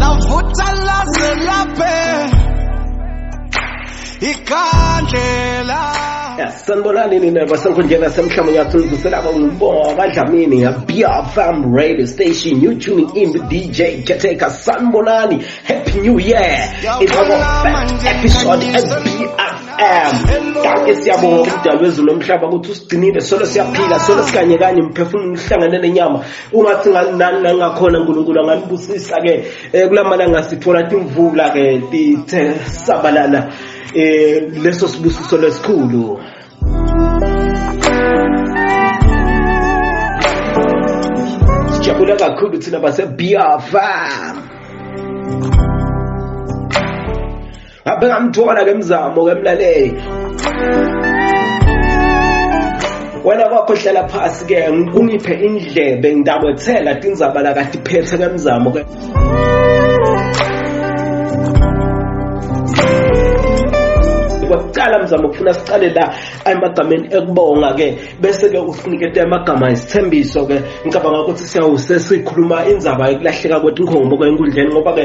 lavuta laze laphe ikhandlela sanibonani nina basenkundleni yasemhlabeni yathuzuselaba ngibonga dlamini ngabfm radio station you tuning in with dj keteka sanibonani happy new year it's our first episode as bfm kake siyabonga ukudalwa ezulu lomhlaba ukuthi usigcinile solo siyaphila solo sikanye kanye mphefumulo uhlangane nenyama ungathi nangakhona unkulunkulu anganibusisa-ke um eh, kula malanga sithola timvula-ke tithe sabalala um leso sibusiso lesikhulu sijabula kakhulu thina basebiyafam ngaphe ngamthola ke mzamo ke mlaleli wena kwakho hlala phasi ke ungiphe indlebe ngidabethela tindzaba la kati phethe ke mzamo ke siqala mzamo kufuna siqale la emagameni ekubonga ke bese ke usinikete amagama isithembiso ke ngicabanga ukuthi siyawuse sikhuluma indzaba yokulahleka kwethu inkhombo ke enkundleni ngoba ke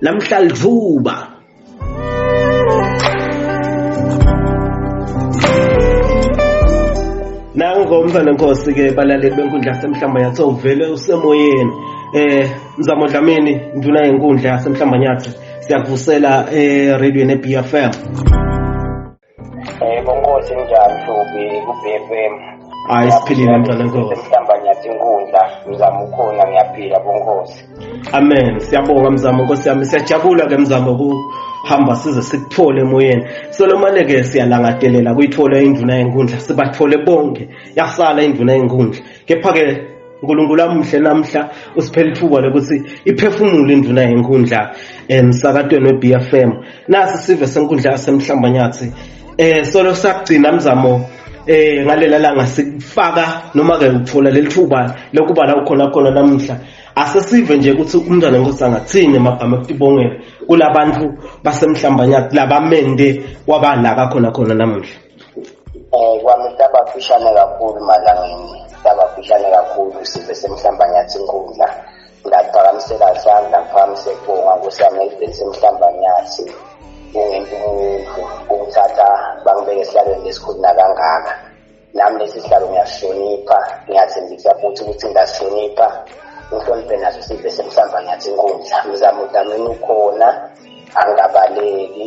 namhlalvuba nango mfana nkosi ke balaleli benkundla yasemhlamba yathi uvele usemoyeni eh mzamo dlamini nduna yenkundla yasemhlamba nyathi siyakuvusela eh radio ne BFM Yebo nkosi njani Hlubi ku-BFM. Hayi siphilile mntwana nkosi. Mhlamba nyathi inkundla mzamo ukhona ngiyaphila bonkosi. Amen. Siyabonga mzamo nkosi yami. Siyajabula ke mzamo ku hamba size sikuthole emoyeni solomane ke siyalangadelela kuyithola induna yenkundla sibathole bonke yasala induna yenkundla kepha ke unkulunkulu amuhle namhla usiphela ithuba lokuthi iphefumule induna yenkundla emsakatweni we-b f m nasi sive senkundla yasemhlambanyathi um solo sakugcina mzamo eh ngalela langa sikufaka noma ke uthola lelithuba lokuba la ukhona khona namuhla asesive nje ukuthi umntwana nkosi angathini emagama ekutibongela kulabantu basemhlambanyati labamende wabalaka khona khona namuhla um kwami sabafishane kakhulu malangeni sabafishane kakhulu sibe semhlambanyathi inkundla ngaphakamisela sandla ngiphamise kubonga kusamelibheni semhlambanyathi kungento umuntu ukuthatha bangibeke esihlalweni lesikhulu nakangaka nami lesi sihlalo ngiyasihlonipha ngiyathembisa futhi ukuthi ngasihlonipha ngihloniphe naso sive semhlamba ngiyathi inkundla mzamo udamini ukhona angabaleki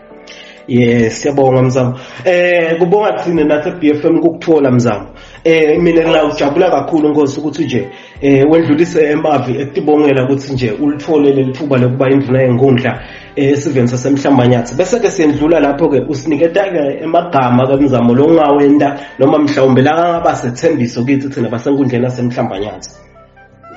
Yes, siyabonga mzamo. Eh kubonga thina nathi BFM ukukuthola mzamo. Eh mina ngilawujabula kakhulu Nkosi ukuthi nje eh wendlulise emavi ekutibongela ukuthi nje ulithole lelithuba lokuba induna yenkundla eh, esiveni sasemhlambanyathi. Bese ke siyendlula lapho ke usiniketa ke emagama kamzamo lo ngawenda noma mhlawumbe la ngaba sethembiso kithi thina basenkundleni yasemhlambanyathi.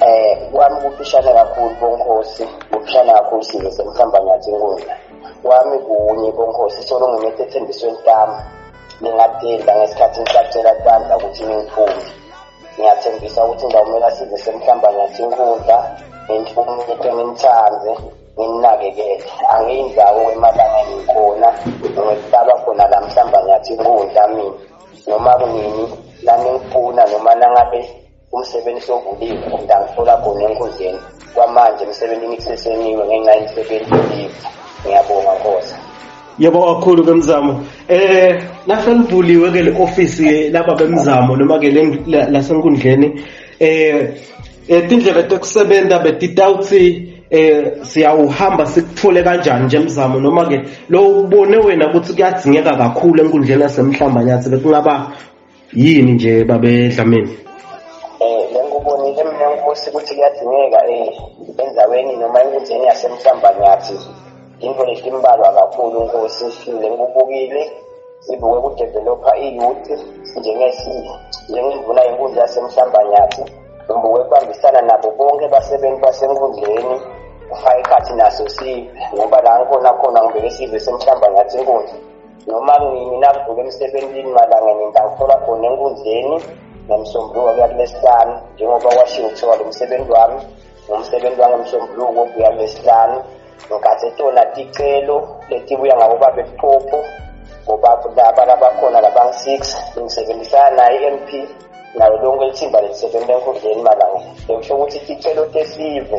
Eh kwami kufishane kakhulu bonkosi kufishane kakhulu size semhamba ngathi inkundla kwami kunye bonkosi solo ngimethe ethembisweni lami ngingadinda ngesikhathi ngisacela bandla ukuthi ningiphume ngiyathembisa ukuthi ngizawumela size semhlamba ngathi inkundla nginhloniphe ngimthande nginakekele angiyindawo kwemalanga ngikhona ngihlaba khona la mhlamba ngathi inkundla mina noma kunini naningifuna noma nangabe umsebenzi sovuliwe ngidangithola khona enkundleni kwamanje emsebenzini kuseseniwe ngenxa yemisebenzi yolive ngiyabonga nkosa yebo kakhulu ke mzamo eh naselivuliwe ke le office laba bemzamo noma ke lasenkundleni eh, eh tindlela tekusebenza betitawutsi eh siyawuhamba sikuthole kanjani nje mzamo noma ke lo ubone wena ukuthi kuyadzingeka kakhulu enkundleni yasemhlamba nyathi bekungaba yini nje babe dlamini eh ngikubonile mina nkosi ukuthi kuyadingeka eh endaweni noma enkundleni yasemhlambanyathi into letimbalwa kakhulu nkosi sifile ngikubukile sibuke kudevelopha iyouth njengemvuna yenkundla yasemhlambanyathi ngibuke kubambisana nabo bonke basebenzi basenkundleni kufaka ikhathi naso sive ngoba la ngikhona khona ngibeke sive semhlamba ngathi inkundla noma mina kuvuka emsebenzini malanga ngingakufola khona enkundleni ngomsombuluko kuya kulesihlanu njengoba kwashiwo kuthiwa lo msebenzi wami ngumsebenzi wangomsombuluko kuya kulesihlanu ngikhathe tona ticelo letibuya ngabo babe liphupho ngoba laba labakhona labangu-six ngisebenzisana naye i-m p nayo lonke ithimba lelisebenza enkundleni malanga bekusho ukuthi ticelo tesive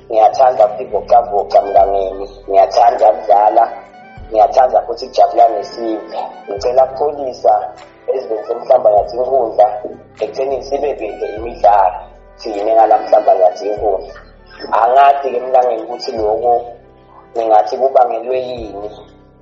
ngiyathanda ukuzivocavoca mnganeni ngiyathanda ukudlala ngiyathanda futhi ukujabula nesive ngicela kupholisa ezweni semhlamba ngathi inkundla ekutheni sibe binde imidlalo siyime ngala mhlamba ngathi inkundla angathi-ke mntangeni ukuthi lokho ningathi kubangelwe yini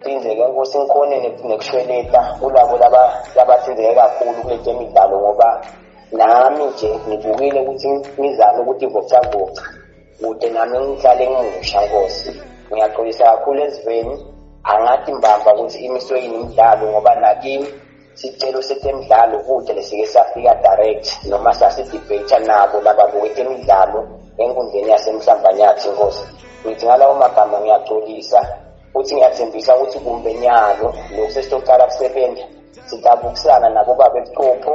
Sihlinzeke inkosi ngikhone nekushweleta kulabo labahlinzeke kakhulu kule temidlalo ngoba nami nje ngibukile ukuthi ngizame ukuthi ivocavoca kude nami ngihlale ngimusha nkosi ngiyaxolisa kakhulu eziveni angathi mbamba ukuthi imiswe yini imidlalo ngoba nakimi sicelo setemidlalo kude lesike safika direct noma sasidebate nabo laba boketemidlalo enkundleni yasemhlambanyathi inkosi ngithi ngalawo magama ngiyaxolisa futhi ngiyathembisa ukuthi kumbe nyalo lokhu sesitocala kusebenza sidabukusana nabobaba ebuchopho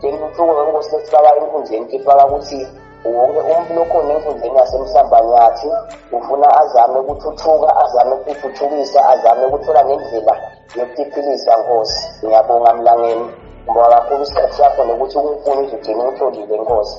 Bengimthuko ngenkosi esifaka enkundleni kifaka ukuthi wonke umuntu lokhona enkundleni yasemhlambanyathi ufuna azame ukuthuthuka azame ukuthuthukisa azame ukuthola nendlela yokutiphilisa nkosi ngiyabonga mlangeni ngoba kakhulu isikhathi sakho nokuthi unkulunkulu uzogcina umtholile nkosi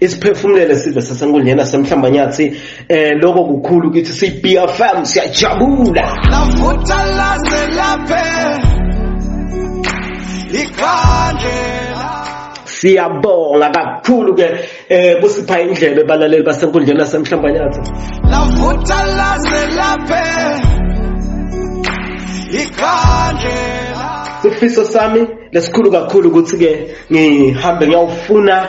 isiphefumulele sive sasenkundleni yasemhlambanyathi eh lokho kukhulu ukuthi siyi-bfm siyajabula lavutha laze laphe ikhandlela siyabonga kakhulu ke eh kusipha indlebe balaleli basenkundleni yasemhlambanyathi lavutha laze laphe ikhandlela sifiso sami lesikhulu kakhulu ukuthi ke ngihambe ngiyawufuna